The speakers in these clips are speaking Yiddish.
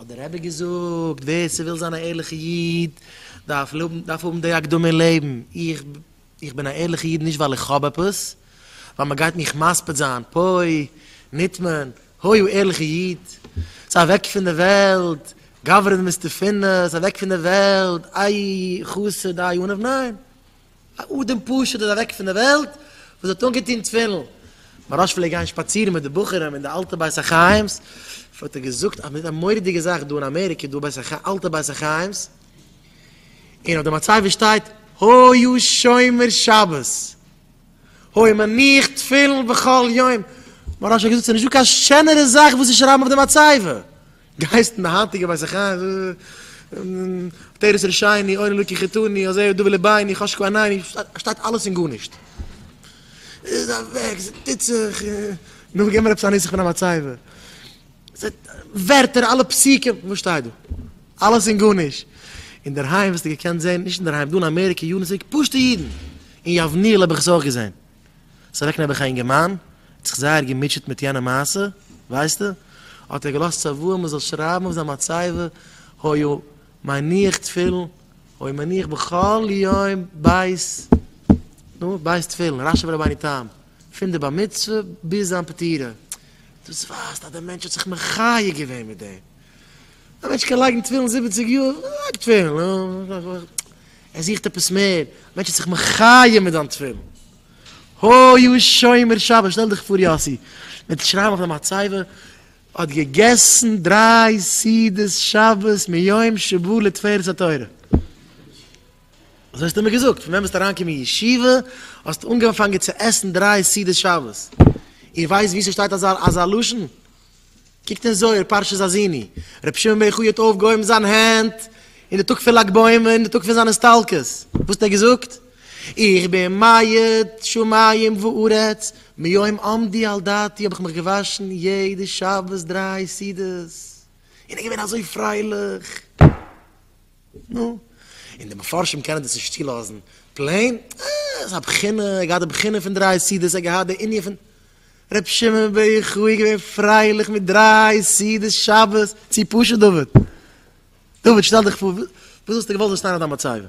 האט דער רבי געזאגט, ווער ס'וויל זיין א ערליכע איד, דארף האבן די הקדמה אין לעבן, איך בין א ערליכע איד נישט ווייל איך האב עפעס, ווייל מ'גייט מיך מספיד זיין, פוי, נטמן, הוי א ערליכע איד, זיי אוועק פון די וועלט, גברא דמסתפינא, זיי אוועק פון די וועלט, איי חסד, איי ענב, ניין. א אדם פשוט איז אוועק פון די וועלט וואס האט אנגעטון תפילין, מוהרא ש פלעגט גיין שפאצירן מיט די בחורים אין די אלטע בית החיים'ס, האט ער געזאגט אז מ'טוט א מורא'דיגע זאך דא אין אמעריקע דא בית החיים אלטע בית החיים'ס, און אויף די מצבה שטייט היה שומר שבת, היה מניח תפילין בכל יום, מוהרא ש האט געזאגט ס'איז נישטא קיין שענערע זאך וואס צו שרייבן אויף די מצבה, גייסט אין די היינטיגע בית החיים תורת רשעני אוין אלוקי חטאני הזה הוא דובי לביני חשקו עיניני פארשטייט אלעס און גארנישט איז אוועק ס'טוט זיך נו געב מיר עפעס א נוסח פון א מצבה ווערטער אלע פסוקים וואס שטייט דא אלעס און גארנישט אינדערהיים וואלסטו געקענט זען נישט אינדערהיים דא אין אמעריקע יארן צוריק פשוטע אידן אין יבניאל האב איך עס אויך געזען. ס'איז אוועק נעבעך א יונגערמאן, ער האט זיך זייער געמוטשעט מיט יענע מעשה, ווייסטו, האט ער געלאזט צוואה מען זאל שרייבן אויף זיין מצבה, היה מניח תפילין, היה מניח בכל יום בית, נו, בית תפילין, רשב א רבינו תם, פון די בר מצוה ביז זיין פטירה, דאס ווייזט אז דער מענטש האט זיך מחיה געווען מיט דעם. א מענטש קען לייגן תפילין זיבעציג יאר, לייג תפילין, ער זוכט עפעס מער, א מענטש האט זיך מחיה מיט דיין תפילין, הוי א שומר שבת, שטעל דיך פאר יאסי, מיט שרייבן אויף די מצבה, האט געגעסן דריי סעודות שבת מיום שבא לתפארת התורה, אזוי האסטו מיר געזאגט, פון ווען ביסטו אריין געקומען אין ישיבה, האסטו אנגעפאנגען צו עסן דריי סעודות שבת, איר ווייסט וואו ס'שטייט אזא לשון? קוקט אין זוהר פרשת האזיני, רבי שמעון בן יוחאי האט אויפגעהויבן זיין הענט אין די טאג פון לג בעומר אין די טאג פון זיין הסתלקות, וואס האט ער געזאגט? איך בין מייד שמים וארץ, מיום עמדי על דעתי האב איך מיך געוואשן יעדע שבת דריי סעודות, און ער איז געווען אזוי פרייליך, נו, און די מפרשים קענען דאס נישט צולאזן פלעין, אה, ס'איז א בחינה, ער האט געהאט די בחינה פון דריי סעודות, ער האט געהאט די ענין פון. ר' שמעון בעכו איז געווען פרייליך מיט דריי סעודות שבת צו פשוט דוד. דוד שטעל דיך פאר, וואס וואלסטו געוואלט וועסט איינער דיין מצבה?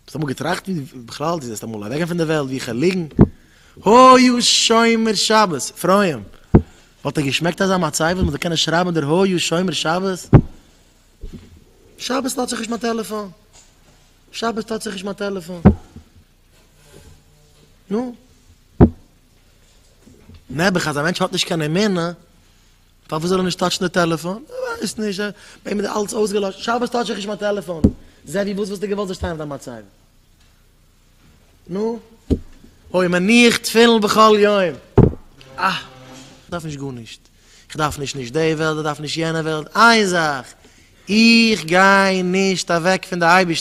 האסט אמאל געטראכט ווי בכלל דו זעסט אמאל אוועקגיין פון די וועלט ווי כעלעגן היו שומר שבת פרויען? וואלט דיר געשמעקט אזא מצבה וואס מ'זאל קענען שרייבען דער היו שומר שבת? שבת טוט זיך נישט מיין טעלעפאן, שבת טוט זיך נישט מיין טעלעפאן. נו, נעבעך אז א מענטש האט נישט קיין אמונה, פארוואס זאל ער נישט טאטשן די טעלעפאן? כ'ווייס נישט, ביי אים איז אלץ אויסגעלאשן, שבת טאטש איך נישט מיין טעלעפאן. זע ווי וואס וואלסטו געוואלט זאל שטיין אויף דיין מצבה? נו, אוי מניח תפילין בכל יום, אה, כ'דארף נישט גארנישט, כ'דארף נישט נישט די וועלט, כ'דארף נישט יענע וועלט, איין זאך, איך גיי נישט אוועק פון די אייבערשטער.